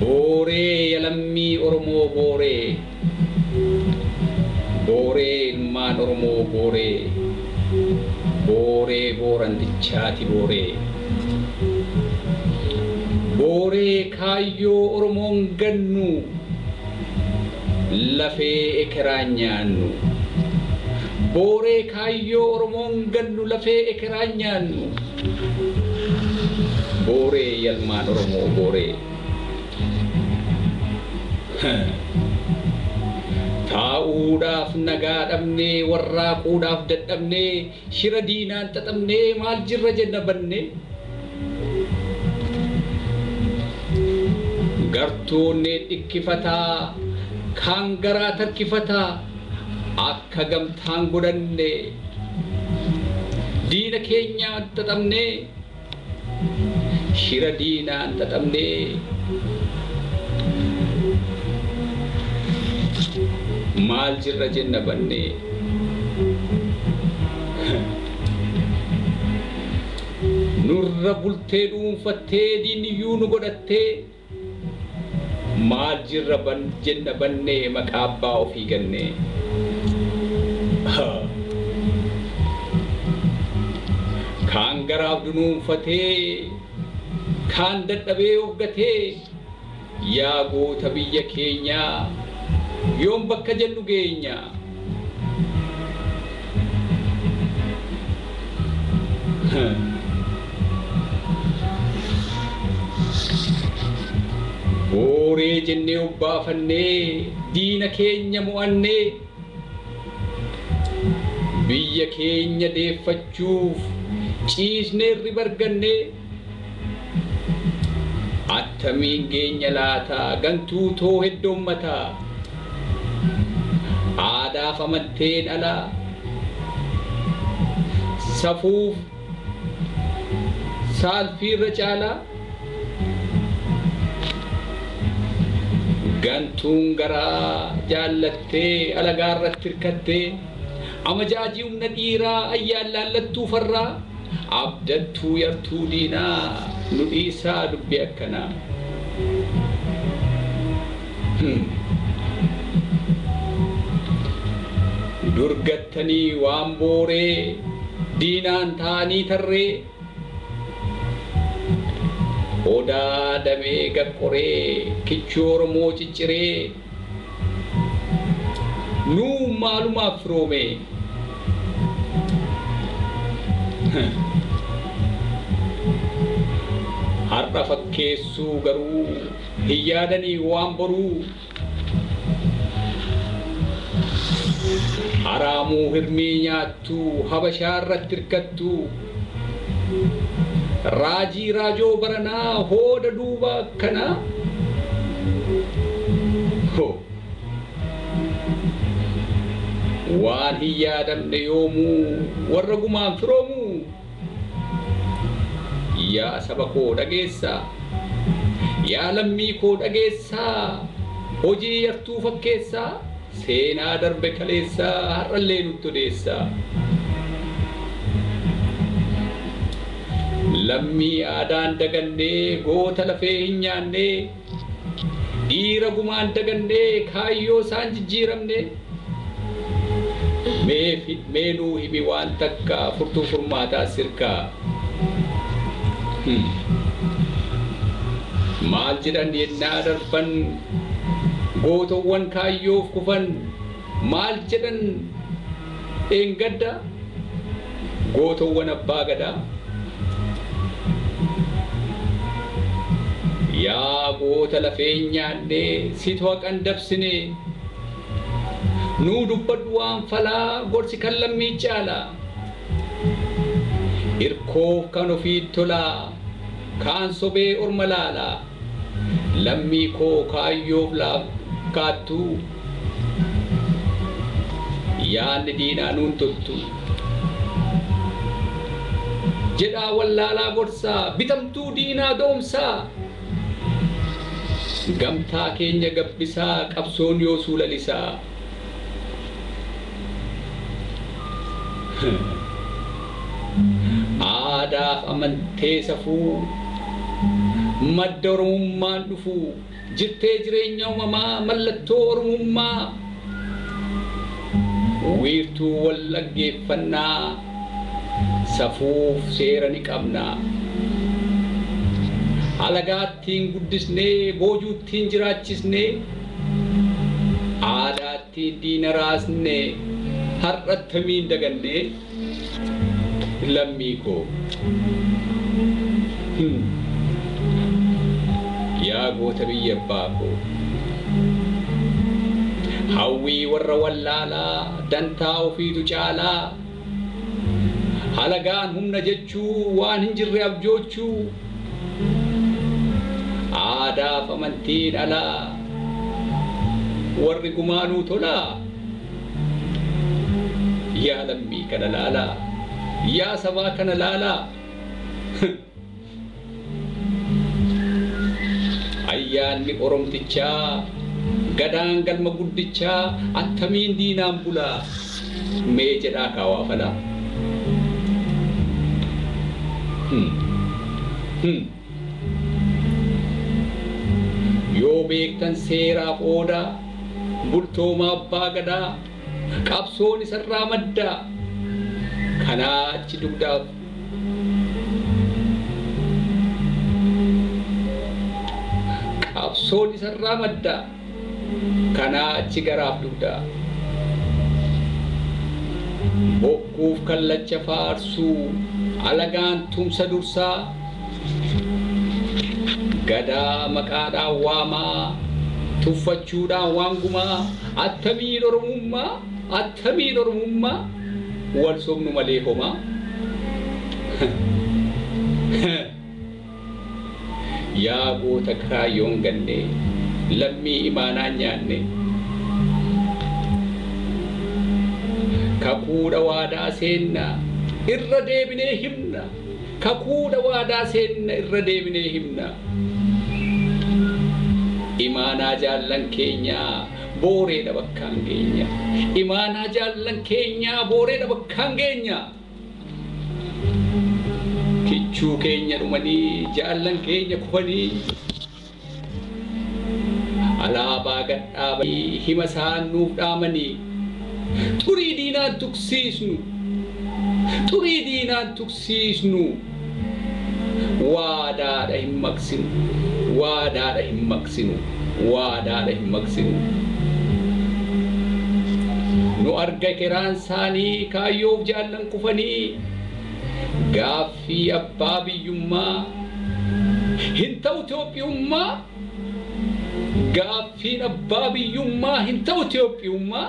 Booree ya lammii Oromoo Booree Booree ilmaan Oromoo Booree Booree Boorantichaati Booree Booree kaayyoo Oromoon gannu Lafee ekeraan nyaannu Booree kaayyoo Oromoon gannu Lafee ekeraan nyaannu. Booree yalmaan oromoo booree Taa'uudhaaf nagaa dhabnee warraaquudhaaf dadhabnee shira diinaan xaxamnee maal jirra jenna bannee Gartuun dhikkifataa kaan garaa tarkifataa ka gamtaan godhanne diina keenyaan xaxamnee shira diinaan xaxamnee maal jirra jenna bannee nurra bultee dhuunfattee diinniyyuu nu godhattee Maal jirra jenna bannee maqaa abbaa ofii gannee. Kaan garaaf dunuunfatee kaan dadhabee of gatee yaa goota biyya keenyaa yoom bakka jennu geenya. Booree jennee obbaafannee diina keenya mo'annee biyya keenya deeffachuuf ciisnee irriba argannee. Attamiin geenya laata gantuu too heddoommataa Aadaaf amanteen ala Safuuf saalfii irra caala Gantuun garaa jaallattee alagaa irratti irkattee Amajaajii humna dhiiraa ayyaan laallattuu farraa Abdattuu yartuu diinaa nu dhiisaa dubbii akkanaa Hum. Dur gattanii waan booree diinaan taa'anii tarree Odaa damee gad qoree kichuu oromoo cicciree. Nuu maalumaaf firoomee? Har'a fakkeessuu garuu hin yaadanii waan boruu? Haraamuu hirmii nyaattuu habashaarratti irkattuu? Raajii Raajoo baranaa hooda duuba kana ho Waan hin yaadamne yoomuu warra gumaan firoomuu Yaa saba koo dhageessaa Yaa lammii koo dhageessaa Hojii yartuu fakkeessaa Seenaa darbe kaleessaa har'allee nutti odeessa. Lammii aadaa hin daganne, goota lafee hin nyaanne, dhiira gumaa hin daganne, kaayyoo isaa hin jijjiiramne. Mee fi- mee nuu himi waan takka furtuu furmaataa sirkaa. Hmm. Maal jedhan yennaa darban Gootowwan kaayyoof kufan maal jedhan dheengadda Gootowwan Abbaa Gadaa Yaa goota lafeen nyaannee situ haqan dabsine Nuu dubbadhu waan falaa gorsi kan lammii caala Irkoof kan ofiit tolaa kaan sobee orma laala. Lammii koo kaayyoof laafkaattu Yaadni diinaa nuun toltu Jedhaa wallaalaa gorsaa Bitamtuu diinaa doomsaa Gamtaa keenya gabbisaa Qabsoon yoosuu lalisaa. Aadaaf amantee safuu madda Oromummaan dhufu jirtee jireenya uumamaa mallattoo Oromummaa wiirtuu wal dhaggeeffannaa safuuf seera ni qabna. Alagaattiin guddisnee boojuuttiin jiraachisnee Aadaatti diina raasne har'a attamiin daganne lammii koo. Him. Yaa goota biyya abbaa koo. Hawwii warra wallaalaa dantaa ofiitu caalaa. Halagaan humna jechuu waan hin jirre abjoochuu, aadaaf amantiin alaa warri gumaa nuu tolaa? Yaa lammii kana laalaa, yaa sabaa kana laalaa! Ayyaanni Oromtichaa, Gadaan Galma Guddichaa attamiin diinaan bula? Mee jedhaa kaa waa fala. Hum! Hum! Yoo beektan seeraaf oodaa, bultooma Abbaa Gadaa, Qabsoon isarraa madda. Kanaa achi dugdaaf. Qabsoon isarraa madda. Kanaa achi garaaf dugda. Bokkuuf kallacha faarsuu. Alagaan tumsa dursaa. Gadaa maqaadhaan waamaa, tuffachuudhaan waan gumaa, attamiin Oromummaa, attamiin Oromummaa, wal sobnu malee homaa. Yaa goota kaayyoon ganne, lammii imaanaan nyaanne, kakuudha waadaa seenna, irra deebinee himna. Kakuu dha waadaa seenna irra deebinee himna. Imaanaa jaallan keenyaa booree dha bakkaan geenya. Imaanaa jaallan keenyaa booree dha bakkaan geenya. Kichuu keenya dhumanii jaallan keenya kufanii. Alaabaa gad dhaabanii hima isaan nuuf dhaamanii Xurii diinaan tuksiisnu Xurii diinaan tuksiisnu Waadaadha hin maqsinu Waadaadha hin maqsinu Waadaadha hin maqsinu Nu arga keraan isaanii Kaayyoof jaallan kufanii Gaaffii fi abbaa biyyummaa hin ta'u Itoophiyummaa Gaaffiin abbaa biyyummaa hin ta'u Itoophiyummaa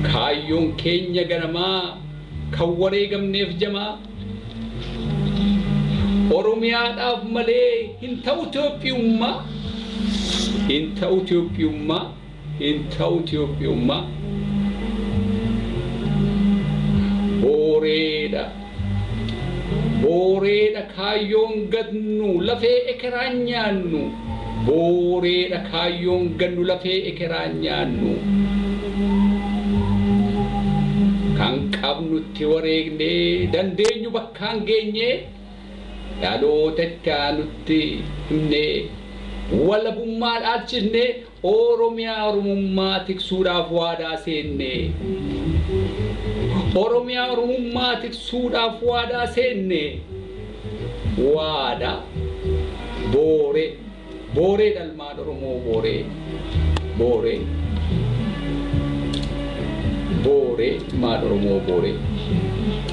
Kaayyoon keenya ganamaa kan wareegamneef jamaa Oromiyaadhaaf malee hin ta'u Itoophiyummaa Hin ta'u Itoophiyummaa hin ta'u Itiyoophiyummaa booreedha booreedha kaayyoon gatnu lafee ekeraan nyaannu booreedha kaayyoon gatnu lafee ekeraan nyaannu kan qabnu itti wareegnee dandeenyu bakkaan geenyee dhaloota itti aanutti himnee walabummaa dhaalchisnee Ooromiyaa Oromummaa tiksuudhaaf waadaa seenne Oromiyaa Oromummaa tiksuudhaaf waadaa seenne Waadaa Booree Booree dha ilmaan Oromoo Booree Booree Booree ilmaan Oromoo Booree.